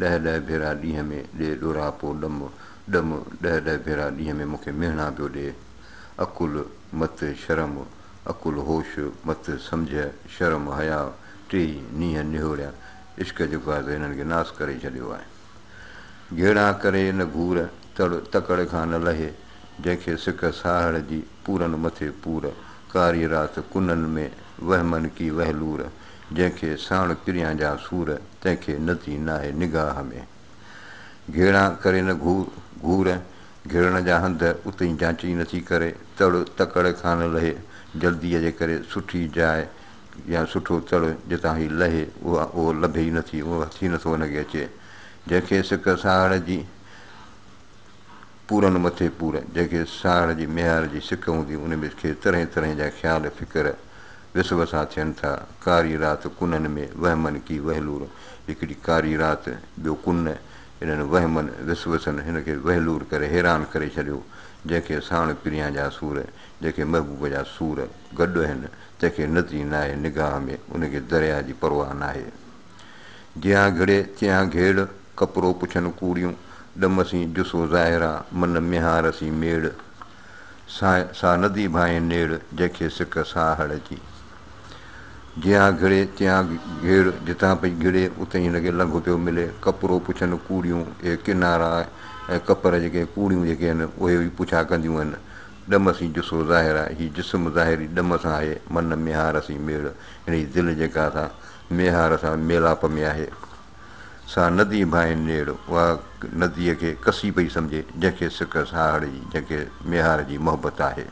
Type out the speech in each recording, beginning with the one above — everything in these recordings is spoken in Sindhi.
ڏهه ڏهه ڀيرا ڏينهن ۾ ڏي ڏورها پو ڏم ڏم ڏهه ڏهه ڀيرا ڏينهن ۾ مون کي مهڻا پيو ڏي عقل مت شرم عقل هوش مت سمجهه شرم حيا ٽيئي نينهن نهوريا عشق جو گاز هنن کي ناس ڪري ڇڏيو آهي گهيڙا ڪري نه گهور تڙ تڪڙ کان نه لهي جنهن کي سڪ ساهڙ جي پورن مٿي پور ڪاري رات ڪنن ۾ وهمن ڪي وهلور جنهن کي ساڻ ڪريان جا سور، تنهن کي نتي ناهي نگاهه ۾. گهيڙان ڪري نه گهور، گهور گهيڙڻ جا هنڌ اتي جانچ ئي نٿي ڪري، تڙ تڪڙ کان نه لهي، جلديء جي ڪري سٺي جاء يا سٺو تڙ جتان هي لهي، اهو لڀي ئي نٿي، اهو هٿ ئي نٿو هن کي اچي، جنهن کي سڪ ساهڙ جي. پورن مٿي پور، جنهن کي ساهڙ جي ميهار جي سڪ هوندي، ان ۾ کي طرحين طرحين جا خيال فڪر وسب سان ٿين ٿا. ڪاري رات ڪنن ۾ وهمن ڪي وهلور، هڪڙي ڪاري رات، ٻيو ڪن، انهن وهمن، وسوسن، هن کي وهلور ڪري حيران ڪري ڇڏيو، جنهن کي ساڻ پريان جا سور، جنهن کي محبوب جا سور، گڏ هن، تنهن کي ندي ناهي نگاهه ۾، ان کي درياهه جي پرواهه ناهي. جيان گهڙي، تيان گهيڙ، ڪپرو پڇن ڪوڙيون، ڏم سين جسو ظاهر آ، من ميهار سين ميڙ. سا سا ندي ڀانئي نيڙ، جنهن کي سڪ سا هڙ جي. جيان گهڙي تيان گهيڙ، جتان پئي گهڙي، اتي ئي هن کي لنگهه پيو ملي. ڪپرو پڇن ڪوڙيون، اهي ڪنارا ۽ ڪپر جيڪي ڪوڙيون جيڪي آهن، اهي ئي پڇا ڪنديون آهن. ڏم سين جسو ظاهر آ، هي جسم ظاهري ڏم سان آهي، من ميهار سين ميڙ، هن جي دل جيڪا سا ميهار سان ميلاپ ۾ آهي. سا ندي ڀائين نيڙ اها نديء کي ڪسي پئي سمجهي، جنهن کي سڪ ساهڙ جي، جنهن کي ميهار جي محبت آهي.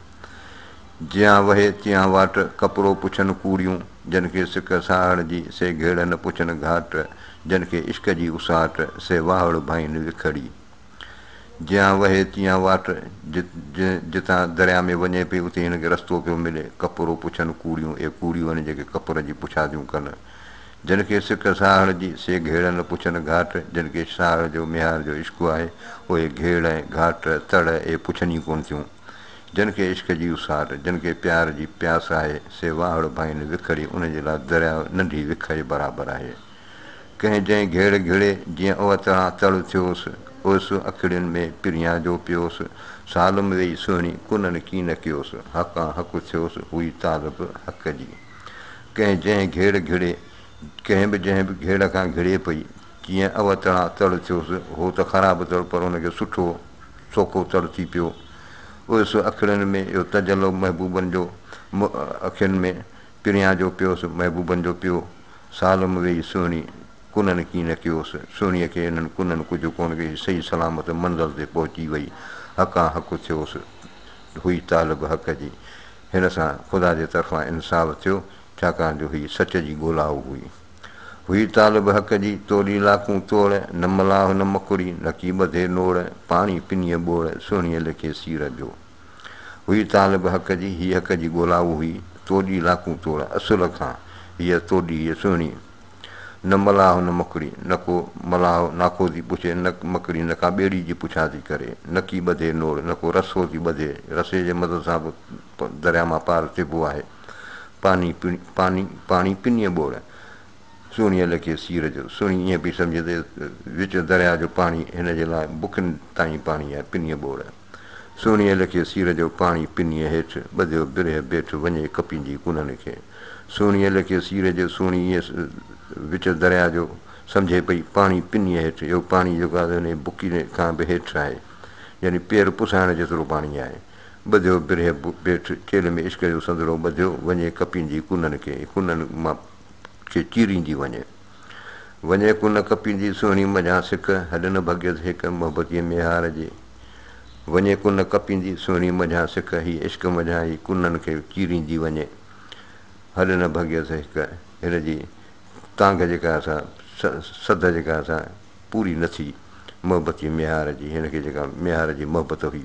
جيان وهي تيان واٽ، ڪپڙو پڇن ڪوڙيون، جن کي سڪ ساهڙ جي، سي گهيڙن پڇن گهاٽ، جن کي عشق جي اساٽ، سي واهڙ ڀائين وکڙي. جيان وهي تيان واٽ، جتان درياء ۾ وڃي پئي، اتي هن کي رستو پيو ملي، ڪپرو پڇن ڪوڙيون، اهي ڪوڙيون آهن، جيڪي ڪپر جي پڇاديون ڪن. جن کي سڪ ساهڙ جي سي گهيڙن نه پڇن گهاٽ جن کي ساهڙ جو ميهار جو عشق آهي اهي گهيڙ ۽ گهاٽ تڙ اي پڇن ئي ڪونه ٿيون جن کي عشق جي اساٽ جن کي پيار جي پياس آهي سي واهڙ ڀائين وکڙي انهن جي لاء درياء ننڍي وک ئي برابر آهي ڪنهن جنهن گهيڙ گهڙي جيئن اهو تڙان تڙ ٿيوس اوس اکڙين ۾ پريان جو پيوس سالم ويئي سهڻي ڪنن ڪين ڪيوس حقان حق ٿيوس هئي طالب حق جي. ڪنهن جنهن گهيڙ گهڙي، ڪنهن به جنهن به گهيڙ کان گهڙي پئي، جيئن اوء تڙان تڙ ٿيوس، هو ته خراب تڙ پر ان کي سٺو، سوکو تڙ ٿي پيو. اوس اکڙين ۾ اهو تجلو محبوبن جو م اکين ۾ پريان جو پيوس، محبوبن جو پيو. سالم ويئي سهڻي ڪنن ڪين نه ڪيوس. سهڻيء کي انهن ڪنن ڪجهه ڪونه ڪيائين، صحيح سلامت منزل تي پهچي ويئي. حقان حق ٿيوس. هئي طالب حق جي. هن سان خدا جي طرفان انصاف ٿيو، ڇاڪاڻ جو هيء سچ جي ڳولائو هئي. هئي طالب حق جي، توڙي لاکون توڙ، نه ملاح نه مڪڙي، نڪي ٻڌي نوڙ، پاڻي پنيء ٻوڙ، سهڻيء ليکي سير جو. هئي طالب حق جي، هيء حق جي ڳولائو هئي، توڙي لاکون توڙ، اصل کان هيء توڙي هيء سهڻي. نه ملاح نه مڪڙي، نه ڪو ملاح ناکو ٿي پڇي، نه مڪڙي نه ڪا ٻيڙي جي پڇا ٿي ڪري، نه ڪي ٻڌي نوڙ، نه ڪو رسو ٿي ٻڌي، رسي جي مدد سان به درياء مان پار ٿئبو آهي. پاني پاني پاڻي پنيء ٻوڙ، سهڻيء لکي سير جو. سهڻي ائين پئي سمجهي ته وچ درياء جو پاڻي هن جي لاء بکن تائين پاڻي آهي، پنيء ٻوڙ. سهڻيء لکي سير جو پاڻي پنيء هيٺ ٻڌيو برهه بيٺ وڃي ڪپيندي ڪونهن کي سهڻيء لکي سير جو سهڻي ايئن وچ درياء جو سمجهي پئي پاڻي پنيء هيٺ اهو پاڻي جيڪو آهي انهيء بڪي کان به هيٺ آهي يعني پير پسائڻ جيترو پاڻي آهي ٻڌيو برهه بيٺ چيلهه ۾ عشق جو سندرو ٻڌيو وڃي ڪپيندي ڪنن کي ڪنن مان کي چيريندي وڃي. وڃي ڪو نه ڪپيندي سهڻي منجهان سڪ، هڏ نه ڀڳيس هيڪ محبتيء ميهار جي. وڃي ڪو نه ڪپيندي سهڻي منجهان سڪ، هي عشق منجهان ئي ڪنن کي چيريندي وڃي. هڏ نه ڀڳيس هيڪ، هن جي تانگهه جيڪا اسان سڌ جيڪا اسان پوري نه ٿي محبتيء ميهار جي، هن کي جيڪا ميهار جي محبت هئي.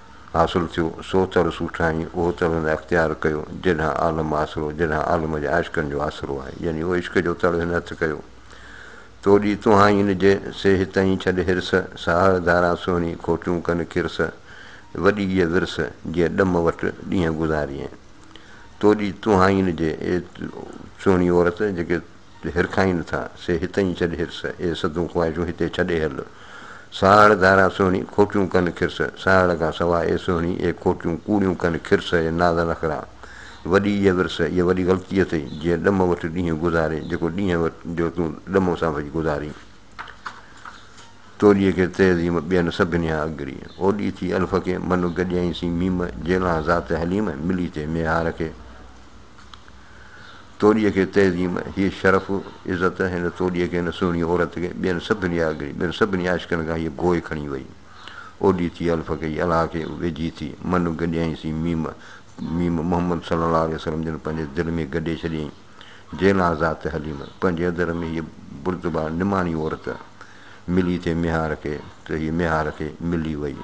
حاصل ٿيو، سو تر سوٺائين، اهو تر هن اختيار ڪيو، جيڏانهن عالم آسرو، جيڏانهن عالم جي عاشقن جو آسرو آهي، يعني اهو عشق جو تر هن هٿ ڪيو، تو ڏي تونهائين نجي، سي هتئين ڇڏ حرص، ساهڙ ڌاران سهڻي، کوٽيون ڪن ڪرس، وڏي ايء ورس، جيئن ڏم وٽ ڏينهن گذاريئين، تو ڏي تونهائين نجي، اي سهڻي عورت، جيڪي جو هرکائين نه ٿا، سي هتئين ڇڏ هرس، اي سڌون خواهشون هتي ڇڏي هل. ساهڙ ڌاران سهڻي، کوٽيون ڪن کرس، ساهڙ کان سواء اي سهڻي، اي کوٽيون ڪوڙيون ڪن کرس، اي ناز نخرا، وڏي ايء ورس، ايء وڏي غلطي اٿئي، جيئن ڏم وٽ ڏينهن گذارين، جيڪو ڏينهن وٽ جو تون ڏم سان وجهه گذارين. توليء کي تهذيم ٻين سڀني کان اڳري، اوڏي ٿي الف کي، من گڏيائين سين ميم، جيلان ذات حليم، ملي ٿئي ميهار کي. توڏيء کي تعظيم، هيء شرف، عزت، هن توڏيء کي، هن سهڻيء عورت کي، ٻين سڀني آگري، ٻين سڀني عاشقن کان هيء گوء کڻي ويئي. اوڏي ٿي الف ڪئي، الها کي ويجهي ٿي، من گڏيائين سين ميم، ميم محمد صلي الله عليه وسلم جن پنهنجي دل ۾ گڏي ڇڏيائين. جيلها ذات حليم، پنهنجي اندر ۾ هيء بردبا نماڻي عورت، ملي ٿي ميهار کي، ته هيء ميهار کي ملي ويئي.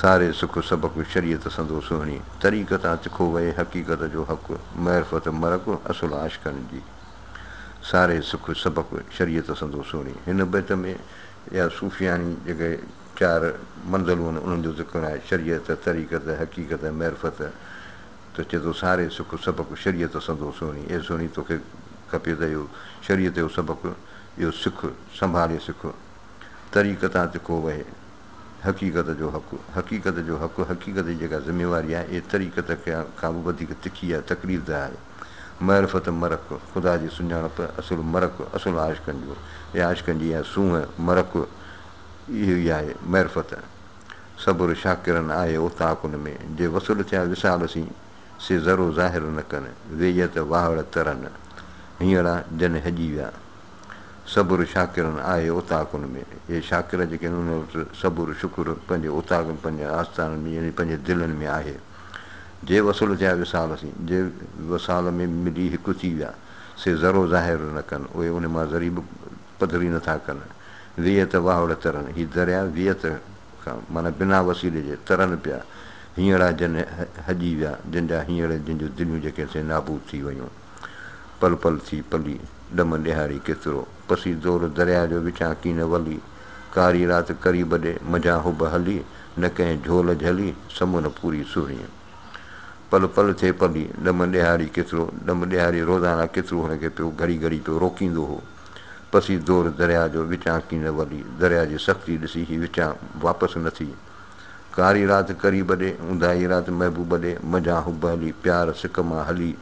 ساري سک سبق شريعت سندو سهڻي، طريقت آ تکو وئي حقيقت جو حق، معرفت مرڪ اصل عاشقن جي. ساري سک سبق شريعت سندو سهڻي. هن بيت ۾ اها صوفياڻي جيڪي چار منزلون آهن انهن جو ذڪر آهي، شريعت، طريقت، حقيقت ۽ معرفت ته چئي ٿو ساري سک سبق شريعت سندو سهڻي، اي سهڻي توکي کپي ته اهو شريعت جو سبق اهو سک، سنڀالي سک، طريقت آ تکو وئي. حقيقت جو حق، حقيقت جو حق، حقيقت جي جيڪا ذميواري آهي، اهي طريقت کان به وڌيڪ تکي آهي، تڪليف ده آهي. معرفت مرڪ، خدا جي سڃاڻپ، اصل مرڪ، اصل عاشقن جو يا عاشقن جي اها سونهن، مرڪ، اهو ئي آهي، معرفت. صبر شاڪرن آهي اوطاق ان ۾، جي وصل ٿيا وصال سين، سي ذرو ظاهر نه ڪن، ويئي ته واهڙ ترن، هينئڙا جن هڄي ويا. صبر شاڪرن آهي اوطاقن ۾، اهي شاڪر جيڪي هن وقت صبر شڪر پنهنجي اوطاقن، پنهنجي آستانن ۾ يعني پنهنجي دلن ۾ آهي. جي وصل ٿيا وصال سين، جي وصال ۾ ملي هڪ ٿي ويا، سي ذرو ظاهر نه ڪن، اهي ان مان ذري به پڌري نه ٿا ڪن. ويئت واهوڙ ترن، هي دريا ويئت کان معنيٰ بنا وسيلي جي ترن پيا، هينئڙا جن هڄي ويا، جن جا هينئڙ جن جون دليون جيڪي سي نابود ٿي ويون. پل پل ٿي پلي، ڏم ڏيهاري ڪيترو، پسي زور درياء جو وچان ڪين ولي، ڪاري رات ڪري ٻڏي، منجهان حب هلي، نه ڪنهن جهول جهلي، سمن پوري سهڻيء. پل پل ٿي پلي، ڏم ڏيهاري ڪيترو، ڏم ڏيهاري روزانه ڪيترو هن کي پيو گهڙي گهڙي پيو روڪيندو هو. پسي زور درياء جو وچان ڪين ولي، درياء جي سختي ڏسي هي وچان واپس نه ٿي. ڪاري رات ڪري ٻڏي، اونداهي رات محبوب ٻڏي، منجهان حب هلي، پيار سڪ مان هلي،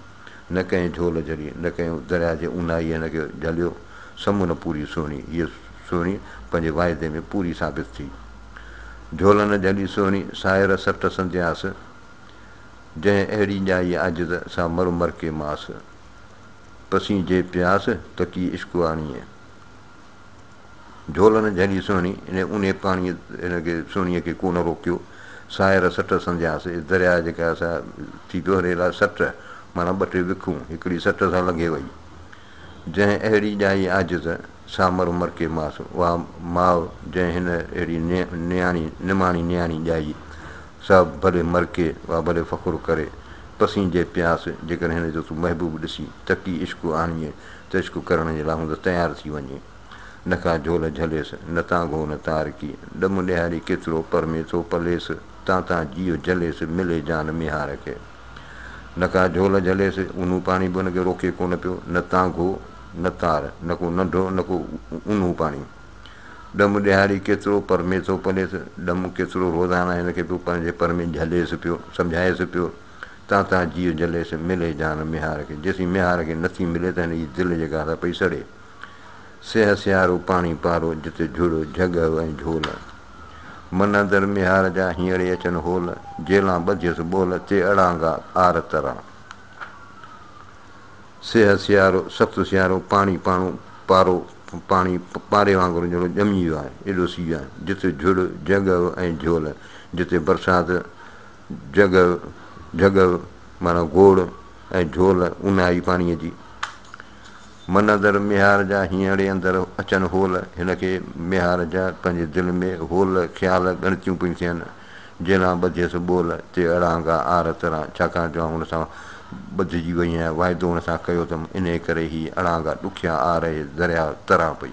نه ڪنهن جهول جهلي، نه ڪنهن درياء جي اونهائي هن کي جهليو، سمون نه پوري سهڻي، هيء سهڻي پنهنجي واعدي ۾ پوري ثابت ٿي. جهول نه جهلي سهڻي، ساهر سٽ سندياس، جنهن اهڙي ڄائي عاجز، سا مر مر ڪي ماس، پسين جي پياس، تڪي عشق آڻيئي. جهولن جهڙي سهڻي ان اونهي پاڻيء هن کي سهڻيء کي ڪونه روڪيو. ساهر سٽ سمجهيانس. اي درياء جيڪا اسان ٿي دوهري لاء سٽ معنيٰ ٻه ٽي وکون هڪڙي سٽ سان لنگهي وئي. جنهن اهڙي ڄائي عاجز سامر مرڪي ماس. اها ماء جنهن هن اهڙي نياڻي نماڻي نياڻي ڄائي، سا ڀلي مرڪي، اها ڀلي فخر ڪري، پسينجي پياس، جيڪڏهن هن جو تون محبوب ڏسين، تڪي عشق آڻيئي، تشڪ ڪرڻ جي لاء هوندس تيار ٿي وڃي. نه ڪا جهول جهليس، نه تان گهو نه تارڪي، ڏم ڏيهاري ڪيترو پر ۾ ٿو پليس، تان تان جيء جليس، ملي جان ميهار کي. نه ڪا جهول جهليس، اونهو پاڻي به هن کي روڪي ڪونه پيو، نه تان گهو نه تار، نه ڪو ننڍو نه ڪو اونهو پاڻي. ڏم ڏيهاري ڪيترو پر ۾ ٿو پليس، ڏم ڪيترو روزانه هن کي پيو پنهنجي پر ۾ جهليس پيو، سمجهائيس پيو. تان تان جيء جلي سي ملي جان ميهار کي جيسين ميهار کي نٿي ملي ته هن جي دل جي گاهه پئي سڙي سيهه سيارو پاڻي پارو جتي جھڙ جھڳ ۽ جھول من اندر ميهار جا هينئڙي اچن هول جيلان ٻڌيس ٻول تي اڙانگا آر ترا سيهه سيارو سخت سيارو پاڻي پاڻو پارو پاڻي پاري وانگر جھڙو ڄمي ويو آهي ايڏو سيء جتي جھڙ جھڳ ۽ جھول جتي برسات جهڳڙ، جهڳڙ معنيٰ گوڙ ۽ جهول اونهائي پاڻيء جي. منظر ميهار جا هينئڙي اندر اچن هول، هن کي ميهار جا پنهنجي دل ۾ هول خيال ڳڻتيون پيون ٿين، جيلان ٻڌيس ٻول تي اڙانگا آر تران، ڇاڪاڻ جو آئون هن سان ٻڌجي وئي هيان، واعدو هن سان ڪيو ٿم، انهيء ڪري هي اڙانگا ڏکيا آر اهي درياء تران پئي.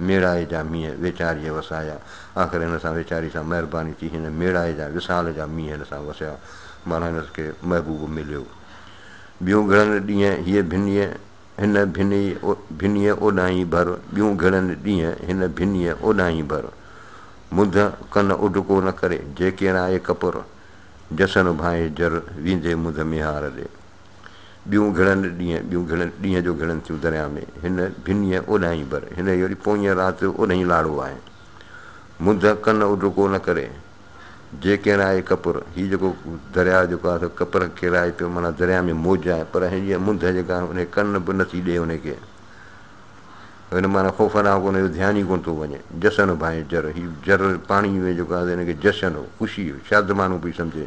ميڙائي جا مينهن ويچاريء وسايا. آخر هن سان ويچاري سان مهرباني ٿي هن ميڙائي جا وصال جا مينهن هن سان وسيا. معنيٰ هنس کي محبوب مليو. ٻيون گهڙن ڏينهن هيء ڀنيء هن ڀنيء ڀنيء اوڏانهين ڀر ٻيون گهڙن ڏينهن هن ڀنيء اوڏانهين ڀر منڌ ڪن اڊڪو نه ڪري جيڪيڻائي ڪپر جسن ڀانئي جر ويندي منڌ ميهار ڏي. ٻيون گهڙن ڏينهن، ٻيون گهڙن ڏينهن جو گهڙن ٿيون درياء ۾، هن ڀنيء اوڏاهين بر، هن ئي وري پوئينء رات جو اوڏهين لاڙو آهي. منڌ ڪن اڏ ڪو نه ڪري، جي ڪيرائي ڪپر، هي جيڪو درياء جيڪو آهي سو ڪپر ڪيرائي پيو، معنيٰ درياء ۾ موج آهي، پر هيء منڌ جيڪا آهي انهي ڪن به نه ٿي ڏئي انهي کي، هن معنيٰ خوفناڪ ان جو ڌيان ئي ڪونه ٿو وڃي، جشن ڀانئي جر، هي جر پاڻيء ۾ جيڪو آهي سو هن کي جشن، خوشي، شادمانو پئي سمجهي،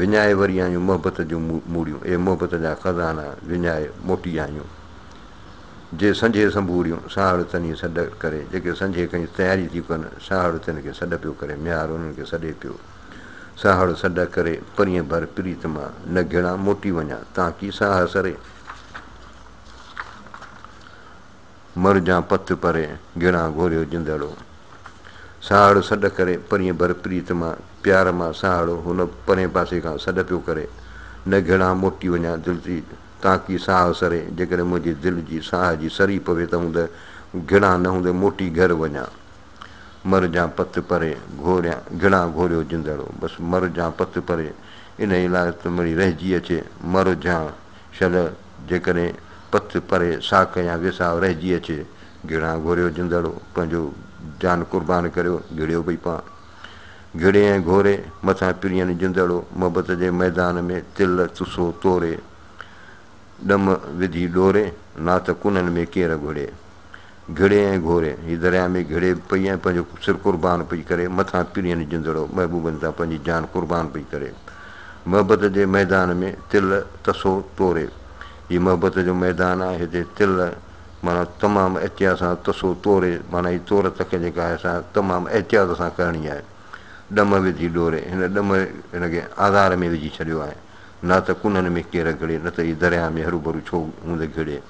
وڃائي وري آيون محبت جون موڙيون اي محبت جا خزانا وڃائي موٽي آيون جي سنجهي سنبوريون ساهڙ تني سڏ ڪري جيڪي سنجهي کڻي تياري ٿيون ڪن ساهڙ تن کي سڏ پيو ڪري ميار انهن کي سڏي پيو ساهڙ سڏ ڪري پرين ڀر پريت مان نه گهڙان موٽي وڃان تانڪي ساهه سري. مر جان پت پري، گهڙان گهوريو جندڙو. ساهڙ سڏ ڪري، پرينء ڀر پريت مان، پيار مان ساهڙو هن پرئين پاسي کان سڏ پيو ڪري، نه گهڙان موٽي وڃان دل جي تانڪي ساهه سري، جيڪڏهن منهنجي دل جي ساهه جي سري پوي ته هوند گهڙان نه هوند موٽي گهر وڃان. مر جان پت پري، گهوريان گهڙان گهوريو جندڙو. بس مر جان پت پري، انهيء لاء ته مڙئي رهجي اچي، مر جان. شله، جيڪڏهن پٿ پري ساک يا ويساهه رهجي اچي، گهڙان گهوريو جندڙو، پنهنجو جان قربان ڪريو، گهڙيو ڀئي پان. گهڙي ۽ گهوري، مٿان پرين جندڙو، محبت جي ميدان ۾ تل تسو توري، ڏم وڌي ڏوري، ناٿ ڪنن ۾ ڪير گهڙي. گهڙي ۽ گهوري، هيء درياء ۾ گهڙي به پئي ۽ پنهنجو سر قربان پئي ڪري، مٿان پرين جندڙو محبوبن تان پنهنجي جان قربان پئي ڪري. محبت جي ميدان ۾ تل تسو توري، هي محبت جو ميدان آهي، هتي تل معنيٰ تمام احتياط سان تسو توري، معنيٰ هي تور تڪ جيڪا آهي سا تمام احتياط سان ڪرڻي آهي. ڏم وڌي ڏوري، هن ڏم هن کي آزار ۾ وجهي ڇڏيو آهي، نه ته ڪنن ۾ ڪير گهڙي، نه ته هي درياء ۾ هروڀرو ڇو هوندي گهڙي.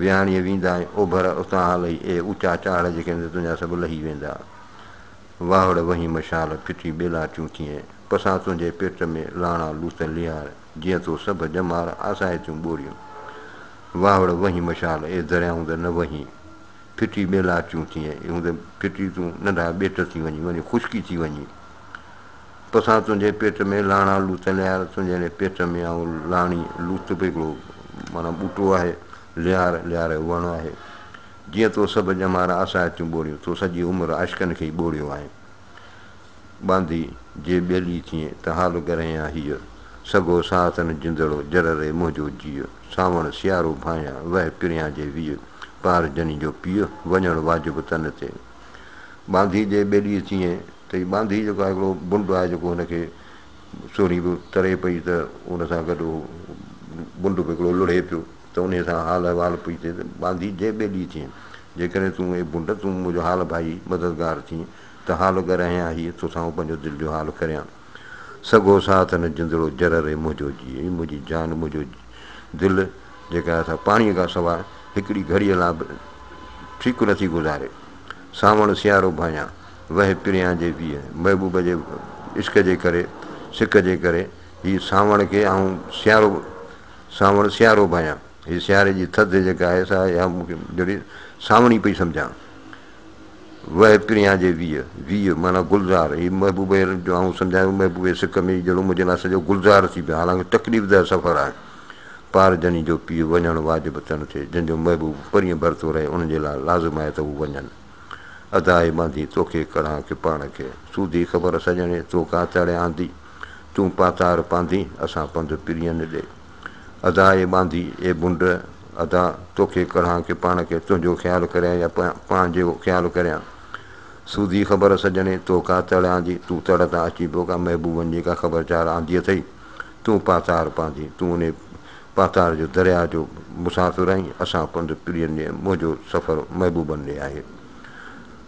وياڻيء ويندا ۽ اوڀر اتان هلئي اهي اوچا چاڙهه جيڪي هوندي تنهنجا سڀ لهي ويندا. واهڙ وهين مشال ڦٽي ٻيلا ٿيون ٿئين، پسان تنهنجي پيٽ ۾ لاڻا لوٿ ليار، جيئن تو سڀ ڄمار آسائتيون ٻوريون. واهڙ وهين مشال اي درياء هوندء نه وهين، ڦٽي ٻيلا ٿيون ٿئين، هوندء ڦٽي تون ننڍا ٻيٽ ٿي وڃين، وڃي خشڪي ٿي وڃين. توسان تنهنجي پيٽ ۾ لاڻا لوت ليار تنهنجي پيٽ ۾ آئون لاڻي لوت به هڪڙو معنيٰ ٻوٽو آهي ليار ليار جو وڻ آهي جيئن تو سڀ ڄمار آسائتيون ٻوڙيون تو سڄي عمر عاشقن کي ئي ٻوڙيو آهين ٻانڌي جي ٻيلي ٿئين ته حال گرهين آ هيء سگهو ساهتن جندڙو جر ري منهنجو جيء سانوڻ سيارو ڀانئيان وهه پريان جي ويء پار جني جو پيء وڃڻ واجب تن تي ٻانڌي جي ٻيلي چيئين ته هي ٻانڌي جيڪو آهي هڪڙو بنڊ آهي جيڪو هن کي سهڻي به تري پئي ته ان سان گڏ هو بنڊ به هڪڙو لڙهي پيو ته انهي سان حال احوال پئي ٿئي ته ٻانڌي جي ٻيلي چيئين جيڪڏهن تون اي بنڊ تون منهنجو حال ڀائي مددگار ٿين ته حال ڳرهيان هي توسان پنهنجو دل جو حال ڪريان. سگهو ساٿ نه جندڙو جر ري منهنجو جيء اي منهنجي جان منهنجو دل جيڪا اسان پاڻيء کان سواء هڪڙي گهڙيء لاء به ٺيڪ نٿي گذاري سانوڻ سيارو ڀانيان وهي پريان جي ويهه محبوب جي عشق جي ڪري سڪ جي ڪري هي سانوڻ کي آئون سيارو سانوڻ سيارو ڀانيان هي سياري جي ٿڌ جيڪا آهي سا اها مون کي جهڙي سانوڻي پئي سمجهان وهه پريان جي ويء، ويء معنيٰ گلزار، هي محبوبه هيرن جو آئون سمجهايو محبوبه سڪ ۾ ئي جهڙو منهنجي لاء سڄو گلزار ٿي پيو حالانڪ تڪليف ده سفر آهي پار جني جو پيء وڃڻ واجب ته نه ٿئي جنهن جو محبوب پرين ڀرتو رهي انهن جي لاء لازم آهي ته هو وڃن ادا اي مانڌي توکي ڪڙهان ڪي پاڻ کي سوڌي خبر سڄڻي تو ڪا تڙي آندي تون پاتار پانڌين اسان پنڌ پرين ڏي. ادا اي ٻانڌي، اي ڀنڊ، ادا توکي ڪڙهان ڪي پاڻ کي تنهنجو خيال ڪريان يا پاڻ جو خيال ڪريان. سودي خبر سڄڻي، تو ڪا تڙ آندي، تون تڙ تان اچي پيو ڪا محبوبن جي ڪا خبرچار آندي اٿئي؟ تون پاتار پانڌي، تون انهي پاتار جو درياء جو مسافر آهين، اسان پنڌ پرين ڏي، منهنجو سفر محبوبن ڏي آهي.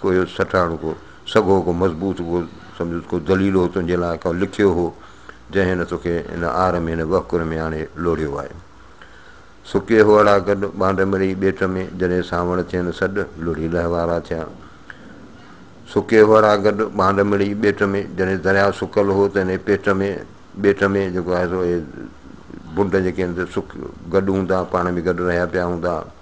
ڪو اهو سٽاڻ ڪو سگهو ڪو مضبوط ڪو سمجهوس ڪو دليل هو تنهنجي لاء ڪو لکيو هو جنهن هن توکي هن آر ۾ هن وهڪر ۾ آڻي لوڙهيو آهي سڪي هئڙا گڏ ٻانڊ مري ٻيٽ ۾ جڏهن سانوڻ ٿين سڏ لڙهي لهوارا ٿيا سڪي هئڙا گڏ ٻانڊ مڙي ٻيٽ ۾ جڏهن درياء سڪل هو ته هن پيٽ ۾ ٻيٽ ۾ جيڪو آهي سو بنڊ جيڪي آهن سڪ گڏ هوندا پاڻ ۾ گڏ رهيا پيا هوندا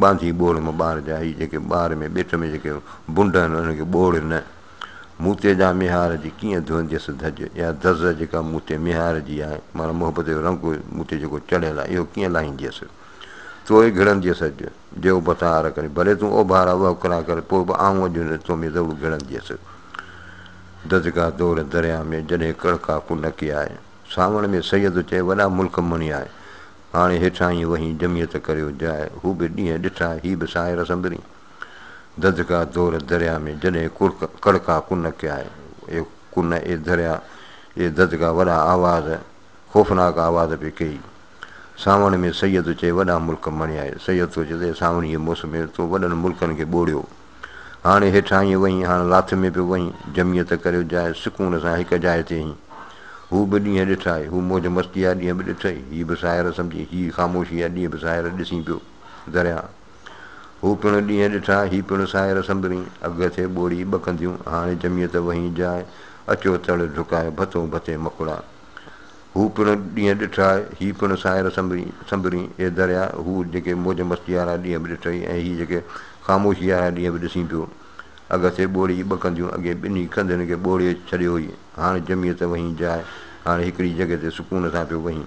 ٻانڌي ٻوڙ مان ٻار جا هي جيڪي ٻار ۾ ٻيٽ ۾ جيڪي بنڊ آهن انهن کي ٻوڙ نه. مون تي جا ميهار جي ڪيئن ڌوئنديس ڌڄ يا دز جيڪا مون تي ميهار جي آهي معنيٰ محبت جو رنگ مون تي جيڪو چڙهيل آهي اهو ڪيئن لاهينديس تو ئي گهڙنديس اڄ جي اوڀتا آر ڪري ڀلي تون اوڀار آ وهڪرا ڪر پوء به آئون اڄ هن تو ۾ ضرور گهڙنديس دزگا دور درياء ۾ جڏهن ڪڙڪا ڪنڪي آهي سانوڻ ۾ سيد چئي وڏا ملڪ مڻي آهي هاڻي هيٺاهين وهين جمعيت ڪريو جاء. هو به ڏينهن ڏٺا هي به ساحر سندرين. ددڪا دور دريا ۾ جڏهن ڪڙڪ ڪڙڪا ڪن ڪيا اي ڪن اي دريا اي ددڪا وڏا آواز خوفناڪ آواز پي ڪيئي. سانوڻ ۾ سيد چئي وڏا ملڪ مڻيائي. سيد ٿو چئي ته اي سانوڻيء موسم ۾ تو وڏن ملڪن کي ٻوڙيو. هاڻي هيٺاهين وهين، هاڻ لاٿ ۾ به وهين، جمعيت ڪريو جاء، سڪون سان هڪ جاء تي هين. هو به ڏينهن ڏٺائي، هو موج مستيء جا ڏينهن به ڏٺئي، هي به ساحر سمجهي، هي خاموشيء جا ڏينهن به ساحر ڏسين پيو. درياء. هو پڻ ڏينهن ڏٺا، هي پڻ ساحر سنبرين، اگهه ٿئي ٻوڙي ٻه ڪنڌيون، هاڻي جمعيت وهين جاء، اچو تڙ ڍڪاء، ڀتون ڀتي مڪڙا. هو پڻ ڏينهن ڏٺا، هي پڻ ساحر سنبرين، سنبرين، اي درياء، هو جيڪي موج مستيء وارا ڏينهن به ڏٺئي ۽ هي جيڪي خاموشيء وارا ڏينهن به ڏسين پيو. اگهٿي ٻوڙي جي ٻه ڪنڌيون، اڳي ٻنهي ڪنڌين کي ٻوڙي ڇڏيو هئي، هاڻ جميء ته وهين جاء، هاڻ هڪڙي جڳهه تي سڪون سان پيو وهين.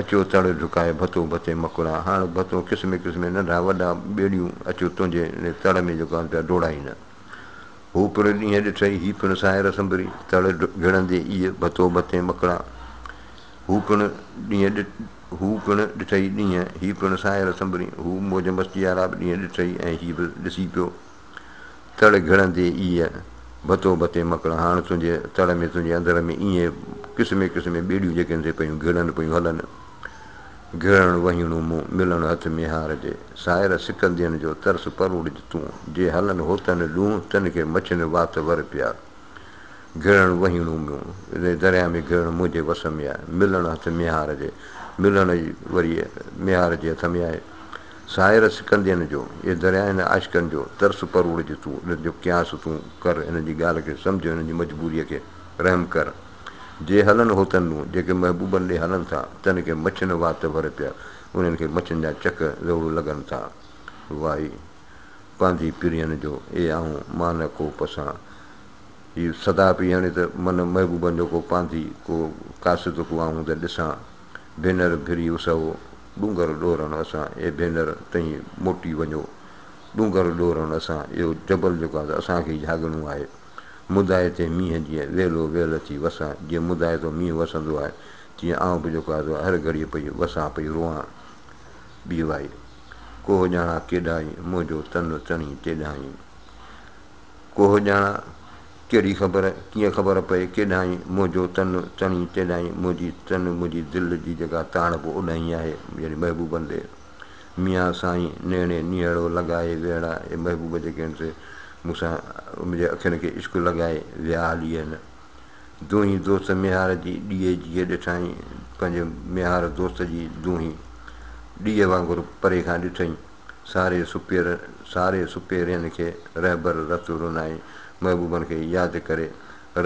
اچو تڙ جهڪائي ڀتو ڀتي مڪڙان، هاڻ ڀتو قسمين قسمين ننڍا وڏا ٻيڙيون اچو تنهنجي ان تڙ ۾ جيڪو آهن پيا ڊوڙائين. هو پڻ ڏينهن ڏٺئي، هي پڻ ساهر سنبري، تڙ گهڙندي ايء ڀتو ڀتين مڪڙا. هو پڻ ڏينهن هو پڻ ڏٺئي ڏينهن، هي پڻ ساهر سنبري، هو موج مستي وارا به ڏينهن ڏٺئي ۽ هي به ڏسي پيو. تڙ گهڙندي ايء ڀتو ڀتين مڪڙا، هاڻ تنهنجي تڙ ۾ تنهنجي اندر ۾ ايئن قسمين قسمين ٻيڙيون جيڪي اندي پيون گهڙن پيون هلن. گهڙڻ وهيڻو مون، ملڻ هٿ ميهار جي. سائر سڪندين جو ترس پروڙج تون، جي هلن هوتن ڏونهه، تن کي مڇين وات ور پيار. گهڙڻ وهيڻو مون، ري درياهه ۾ گهڙڻ منهنجي وس ۾ آهي، ملڻ هٿ ميهار جي. ملڻ ئي وري ميهار جي هٿ ۾ آهي. سائر سڪندين جو، اي درياهه هن عاشقن جو، ترس پروڙج تون، انهن جو قياس تون ڪر، انهن جي ڳالهه کي سمجهه، انهن جي مجبوريء کي رحم ڪر. جي هلن هوتن ڏون، جيڪي محبوبن ڏي هلن ٿا، تن کي مڇن وات ور پيا، انهن کي مڇن جا چڪ زور لڳن ٿا. وائي! پانڌي پرين جو، اي آئون مان نه ڪو پسان. هي صدا پئي هڻي ته، من محبوبن جو ڪو پانڌي، ڪو قاصد ڪو آئون ته ڏسان. ڀينر ڀري اسهو، ڏونگر ڏورڻ اسان، اي ڀينر! تهين موٽي وڃو. ڏونگر ڏورڻ اسان، اهو جبل جيڪو آهي، اسان کي ئي جهاڳڻو آهي. مدائي تي مينهن جيئن ويلو ويل اچي وسان، جيئن مدائي تون مينهن وسندو آهي، تيئن آئون به جيڪو آزو آهي، هر گهڙيء پئي وسان، پئي روئان. ٻي وائي. ڪوهه ڄاڻان ڪيڏانهين، منهنجو تن تڻي تيڏانهين. ڪوهه ڄاڻان، ڪهڙي خبر، ڪيئن خبر پئي، ڪيڏانهين، منهنجو تن تڻي تيڏانهين، منهنجي تن، منهنجي دل جي جيڪا تاڻپ اوڏانهين آهي، يعني محبوبن ڏي. ميان سائين نيڻي نيهڙو لڳائي ويڙا اي محبوب جي ڪين سي مون سان منهنجي اکين کي عشق لڳائي ويا هلي اي نه دونهين دوست ميهار جي ڏيئي جيئي ڏٺائين پنهنجي ميهار دوست جي دونهين ڏيئي وانگر پري کان ڏٺئين ساري سپير ساري سپيرين کي رهبر رت رونائين محبوبن کي ياد ڪري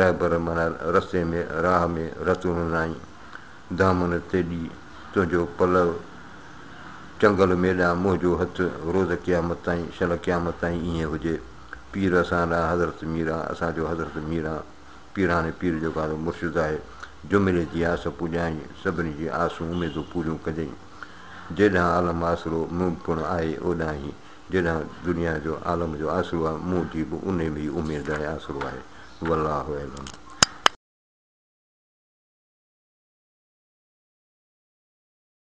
رهبر معنيٰ رستي ۾ راهه ۾ رت رونائين دامن تيڏي تنهنجو پلؤ چنگل مي ڏانهن منهنجو هٿ روز قيامت تائين شل قيامت تائين ائين هجي پير اسان لا حضرت ميران اسان جو حضرت ميران پيراڻي پير جيڪو اسان جو مرشد آهي جميلي جي آس پوڄائين سڀني جي آسون اميدون پوريون ڪجين جيڏانهن عالم آسرو مون پڻ آهي اوڏانهن هي جيڏانهن دنيا جو عالم جو آسرو آهي مون جي به انهي ۾ ئي اميد آهي آسرو آهي والله اعلم.